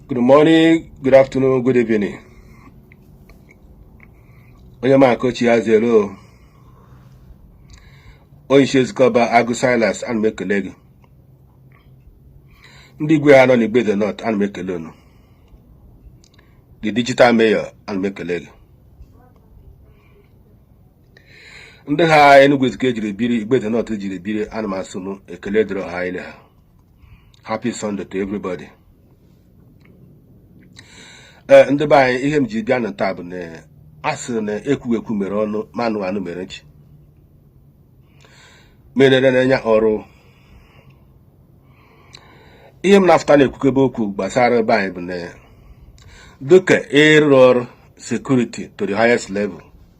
Good morning, good afternoon, good evening. Onye ma kochi ya zero. Onye isi Ezikeọba Agụ Silas ana m ekele gị. Ndị igwe ha nọ n'Igbo Eze North ana m ekele unu. The digital mayor ana m ekele gị. Ndị ha Enugu Ezike jiri biri Igbo Eze North jiri biri ana m asụ m ekele dịrị ọha ile ha. happy sunday to everybody ee eh, ndị be anyị ihe m ji bịa na taa bụ na a sịrị na ekwughị ekwu mere ọnụ ma anụghị anụ mere nchi merere n'anya ọrụ ihe m na-afụta na-ekwukebe okwu gbasara be anyị bụ na dịka ịrụ ọrụ security to the highest level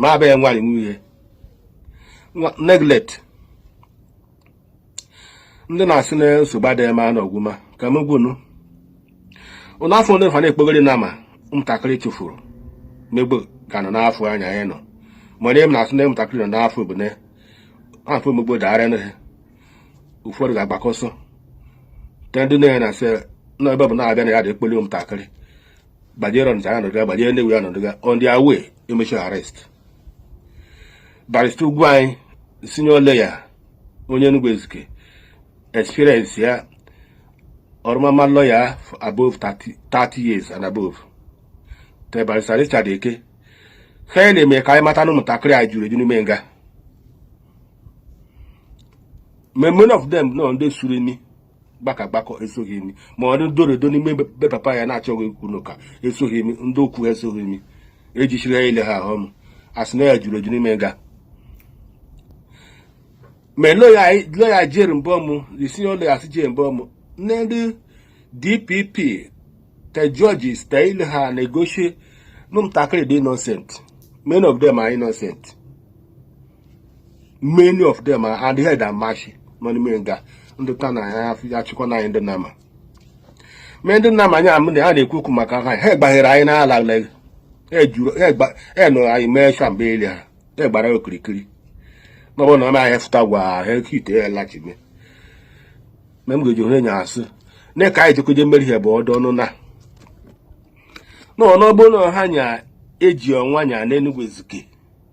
ma abịaghị nwaanyị nwe ihe neglect ndị na-asị na nsogbu adịghị ma na ọgwụma ka m gwunu ụlọ afọ ndị fa na-ekpogori nama ụmụntakịrị chụfuru megbu ka nọ n'afọ anya anyị nọ ma onye m na-asị na ụmụntakịrị nọ n'afọ bụ na afọ megbu dara na ha ụfọdụ ga-agbakọsọ te ndị na-enye na sị na ebe bụ na-abịa na ya dị ekpoli ụmụntakịrị gbajere ọnịcha ha nọdụga gbajere Nnewi ha nọdụga on their way emechi arrest barista Ugwuanyị senior lawyer onye Enugu Ezike experience ya ọrụmama lawyer for above 30 years and above te barista Richard Eke ha na-eme ka anyị mata na ụmụntakịrị anyị juru eju n'ime nga many of them nọ ndị suru imi gbaka gbakọ esoghị imi ma ọ dị doredo n'ime be papa ya na-achọghị ikwu n'ụka esoghị imi ndị okwu ha esoghị imi ejichiri ya ile ha ahụ m asị na ya juru eju n'ime nga ma loya jere mbọmụ senior loya si jere mbọmụ nne ndị DPP te judges te ile ha na-egosi na ụmụntakịrị dị innocent many of them are innocent many of them are the head and mashi nọ n'ime nga ndị ta na ya achịkwa na anyị ndị nama mee ndị nama anyị amụ na ha na-ekwu okwu maka ha ha gbaghere anyị n'ala ha nụrụ anyị mee shamba ile ha ha gbara okirikiri n'ọbụ na ọma anyị fụta gwa ha ekite ya lachibe ma m ga-eji onye nya asị na ka anyị jekweje mmeri ha bụ ọdụ ọnụ na n'ọnụ ọbụ na ha nya eji ọnwa nya n'Enugwu Ezike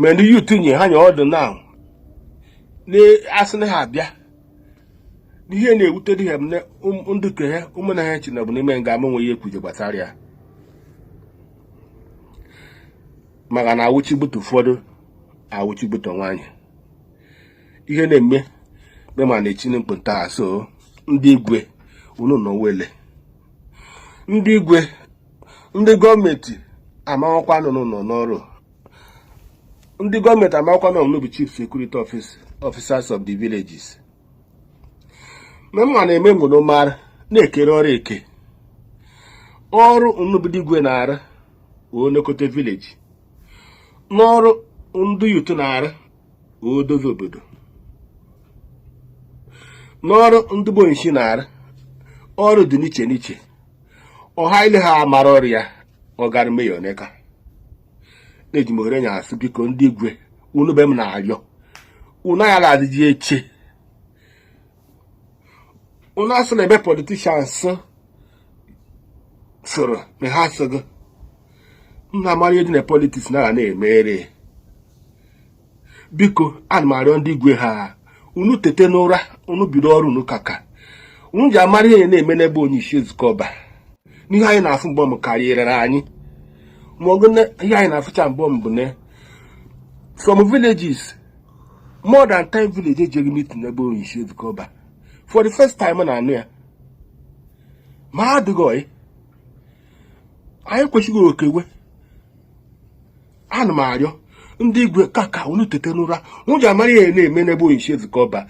ma ndị youth nye ha nye ọdụ na asị na ha abịa n'ihe na-ewute dị ha m na ndụ ke ha ụmụnna ha chi na bụ n'ime nga ama nweghị ekwuje gbasara ya maka na awụchibutu ụfọdụ awụchibutu nwaanyị ihe na-eme mema na echini mkpụta so ndị igwe unu nọ wele ndị igwe ndị gọọmenti amakwa nọ n'ọrụ ndị gọọmenti amakwa na unu bụ chief security officers of the villages ma mma na-eme mgbe unu mara na e kere ọrụ eke ọrụ unu bụ ndị igwe na-arụ onekọta village n'ọrụ ndị youth na-arụ odozi obodo n'ọrụ ndị bụ onyishi na-arụ ọrụ dị n'iche n'iche ọha ile ha amara ọrụ ya ọ gara meya oneka eji m ohere nya asị biko ndị igwe unu be m na-arịọ unu aghara adịji eche unu asị na ebe politicians soro na ha asịghị nna amara ihe dị na politics na-aga na-emere biko ana m arịọ ndị igwe ha unu tete n'ụra unu bido ọrụ unu kaka unu ji amara ihe na-eme n'ebe onye isi Ezike Ọba n'ihe anyị na-afụ mgbe m karịrị anyị ma ọgụ ihe anyị na-afụcha mgbe m bụ na from villages more than 10 village ejeghị meeting n'ebe onye isi Ezike Ọba for the first time na anụ ya ma adịghị anyị kwesịghị okewe ana m arịọ ndị igwe ka ka unu tete n'ụra unu ji amara ihe na-eme n'ebe onyeisi Ezike Ọba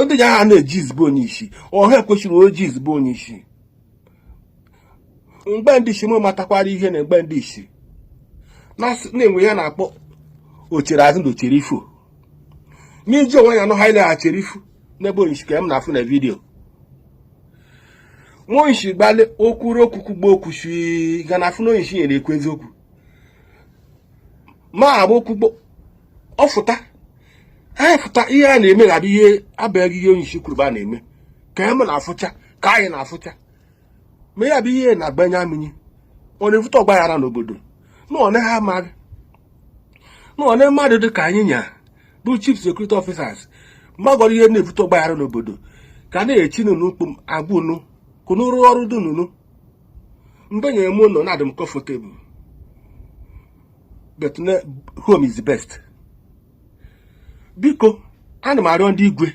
ndị ji aha na-eje izu be onyeisi ọha ekwesịrị oje izu be onyeisi mgbe ndị isi m matakwara ihe na mgbe ndị isi na-enwe ya na-akpọ ochere azụ na ochere ifu n'iji onwe ya nọ ha ileghachiri ifu n'ebe onyeisi ka m na-afụ na video nwa onyeisi gbalị okwuru okwukwu gba okwuchi ga na afụ na onyeisi nyere ekwu eziokwu ma agba okwugbo ọ fụta anyị fụta ihe a na-eme na ihe abụghị ihe onye isi kwuru ba na-eme ka m na-afụcha ka anyị na-afụcha ma ya bụ ihe na-agbanye amịnye ọ na-evute ọgba aghara n'obodo na ọ naghị amaghị na ọ na mmadụ dị ka anyị nya bụ chief security officers magọrọ ihe na-evute ọgba aghara n'obodo ka na-echi nụnụ agwa unu ka unu rụ ọrụ dụ nụ unu mgbe nyere m ụlọ na-adị m comfortable but home is the best biko ana m arịọ ndị igwe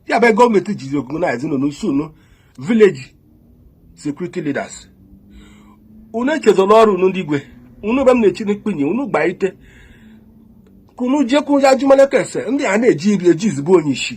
ya bụ gọọmenti jizi organize nọ n'usu unu village security leaders unu echezọla ọrụ unu ndị igwe unu be m na-echi n'ikpenye unu gba ite ka unu jekwu ya ajụmalaka ese ndị a na-ejizi bụ onye isi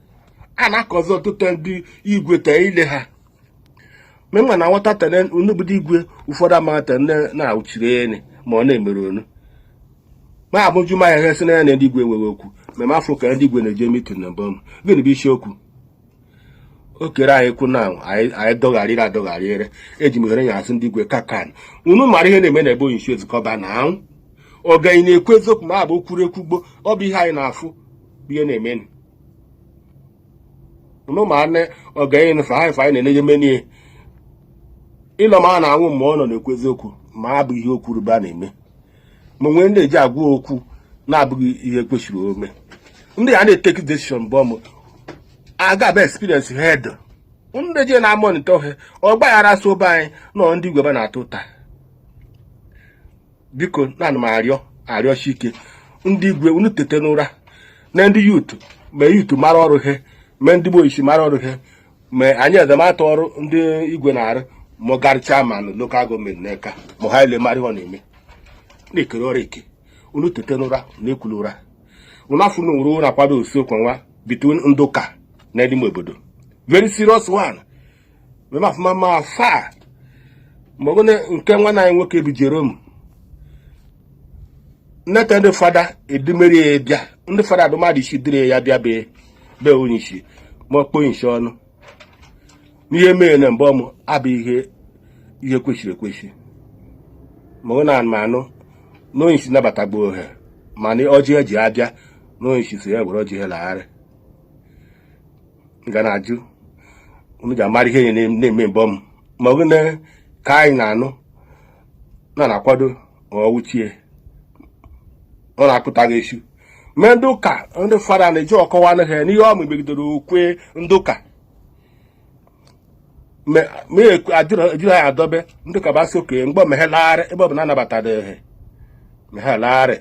a na-akọzi ọtụtụ ndị igwe tee ile ha ma ị ma na nwata tene unubudo igwe ụfọdụ amaghị tene na-auchiri ene ma ọ na-emere onu ma a bịa jụma ya sị na ya na ndị igwe nwere okwu ma ma afọ ka ndị igwe na-eje mitin na mbọ gịnị bụ isiokwu o kere anyị kwu na anyị dọgharịrị adọgharịrị eji m ohere ya asị ndị igwe kakan unu mara ihe na-eme na ebe onye isi Ezike Ọba na anwụ ọganyị na-ekwu eziokwu ma abụ kwuru ekwugbo ọ bụ ihe anyị na-afụ bụ ihe na-emenụ unu ma nne ogenye nụfụ ha ife anyị na-enye menie ịlọ ma a na-anwụ mgbe ọ nọ na-ekwu eziokwu ma a bụ ihe okwu rube a na-eme ma nwee ndị e ji agwa okwu na-abụghị ihe kwesịrị ome ndị a na-etake decision bụ ọmụ aga bụ experience head ndị je na-amonitor ha ọgbaghara so be anyị nọ ndị igwe be a na-ata ụta biko na ana m arịọ arịọshi ike ndị igwe unu tete n'ụra na ndị youth ma youth mara ọrụ ha ma ndị bụ onye isi mara ọrụ ha ma anyị ezemata ọrụ ndị igwe na-arụ ma garị chairman lokal gọọmenti n'aka ma ha ile mara ọ na-eme na-ekere ọrụ eke unu tete n'ụra na ekula ụra unu afụ na ụra ụra kwado osi okwu nwa between ndị ụka na ndị ime obodo very serious one mebe afụma ma asaa ma ọ bụ nke nwanne anyị nwoke bụ Jerome nneta ndị fada edumere ya bịa ndị fada bụ mmadụ isii duru ya bịa be onye isi ma ọ kpọọ onye isi ọnụ n'ihe mere na mgbe ọmụ abụ ihe ihe kwesịrị ekwesị ma ọ na anụ na onye isi nabatagbo he mana ọjị he ji abịa na onye isi sị ya were ọjị he lagharị ga na-ajụ unu ji amara ihe na-eme mbọ m ma ọ gịnị ka anyị na-anụ na na-akwado ọwụchie ọ na-akụta gị esu mee ndị ụka ndị fada na-eji ọkọwa anụ ha n'ihe ọ megidere okwe ndị ụka ma ajụrụ anyị adọbe ndị ụka ba sị okenye mgbe me he lagharị ebe ọ bụ na anabatara ha me he lagharị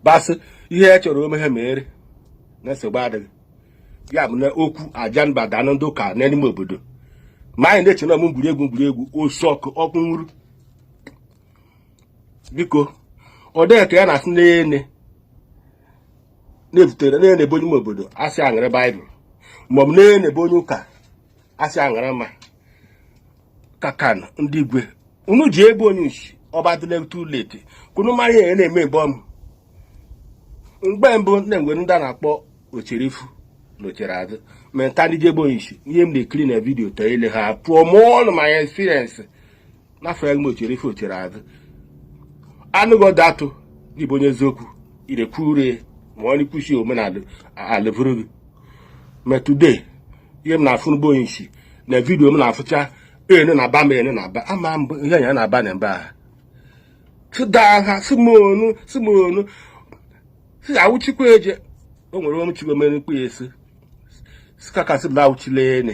ba sị ihe e chọrọ ome ha mere na nsogbu adịghị ya bụ na okwu aja mba danụ ndị ụka n'ime obodo ma anyị na-eche na ọmụ egwuregwu egwuregwu osu ọkụ ọkụ nwuru biko ọ dịghị ka ya na-asị n'ene na-ebutere na onye bụ onye ime obodo a sị ya were baịbụl maọbụ na onye bụ onye ụka asị aṅara ma kakan ndị igwe unu jee be onyishi ọ ba adịle too late ka unu mara ihe na-eme ebe ọmụ mgbe mbụ na-enwe ndị a na-akpọ ochere ifu na ochere azụ ma taa ndị ji be onyishi ihe m na-ekiri na vidiyo taa ile ha pụọ mụọ ọnụ ma ya experience afụ m ochere ifu ochere azụ anụghị ọdụ atụ gị bụ onye eziokwu irekwu ure ma ọ n'ikwusi omenala alevuru gị ma today ihe m na-afụ na be onyishi na vidiyo m na-afụcha ene na aba m ene na aba ama m ihe anya na aba na mba ha sida ha si m onu si m onu si awụchikwa eje o nwere omechigomere mkpụ ya esi sikakasị m na awụchila ene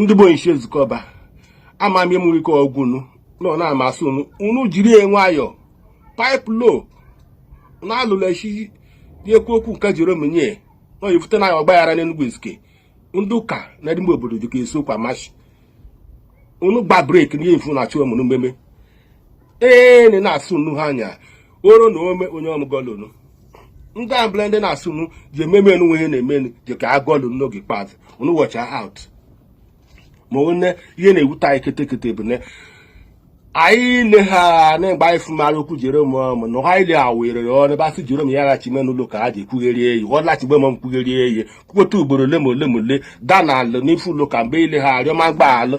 ndị be onyishi Ezikeọba ama m ịmụrụ ike ọgwụ unu nọ na-amasị unu unu jiri ya nwayọọ pipe low na-alụla echi dị ekwu okwu nke Jerome nye na oyifute na ya ọgbaghara n'Enugu Ezike ndị ụka na ndị ime obodo dịka esi okwu amashị unu gba brake n'ihe mfu na-achụ ọmụrụ mmeme ee na na-asị unu ha anya oro na ome onye ọmụgọlunu ndị abụla ndị na-asị unu ji ememe enu ihe na-emenu ji ka agọlunu n'oge ikpeazụ unu watch out ma onye ihe na-ewute anyị ketekete bụ na anyị le ha na-egbe anyị fụmara okwu Jerome ọmụ na ha ile awere ya ọnụ ba sị Jerome ya ghachi me n'ụlọ ụka ha ji ekwugheri eyi ọ lachigbe m mkwugheri eyi kwukweta ugboro ole ma ole ma ole daa na alị n'ifu ụlọ ụka mgbe ile ha arịọ mgbaghalụ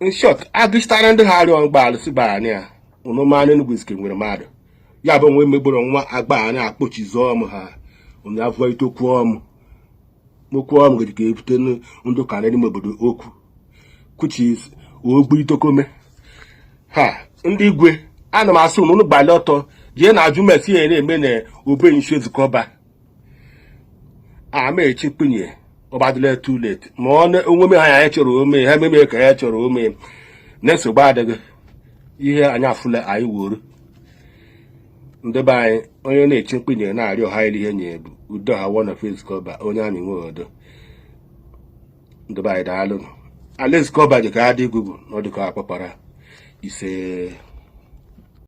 in short agụchitara ndị ha arịọ mgbaghalụ sị ba anyị a unu ma n'Enugu Ezike nwere mmadụ ya bụ onwe megboro nwa agba anyị akpọchizi ọmụ ha onye avụọ ite okwu ọmụ okwu ọmụ gị ka ebute ndị ụka na ime obodo okwu which is Ogbu Idoko me ha ndị igwe ana m asị unu gbalị ọtọ jee na ajụ ma ese ihe na-eme na be onyishi Ezikeọba amaechi kpunye ọ ba adịla too late ma ọ onwe m ha ya chọrọ ome ha ememe ka ya chọrọ ome na-esogbu adịghị ihe anyị afụla anyị wuru ndị be anyị onye na-eche mkpunye na-arịọ ha ile ihe nye bụ udo ha wọ na Ezikeọba onye amị nwee udo ndị be anyị daalụ ala Ezikeọba dị ka adị gugu n'ọdụ ka akpakpara ise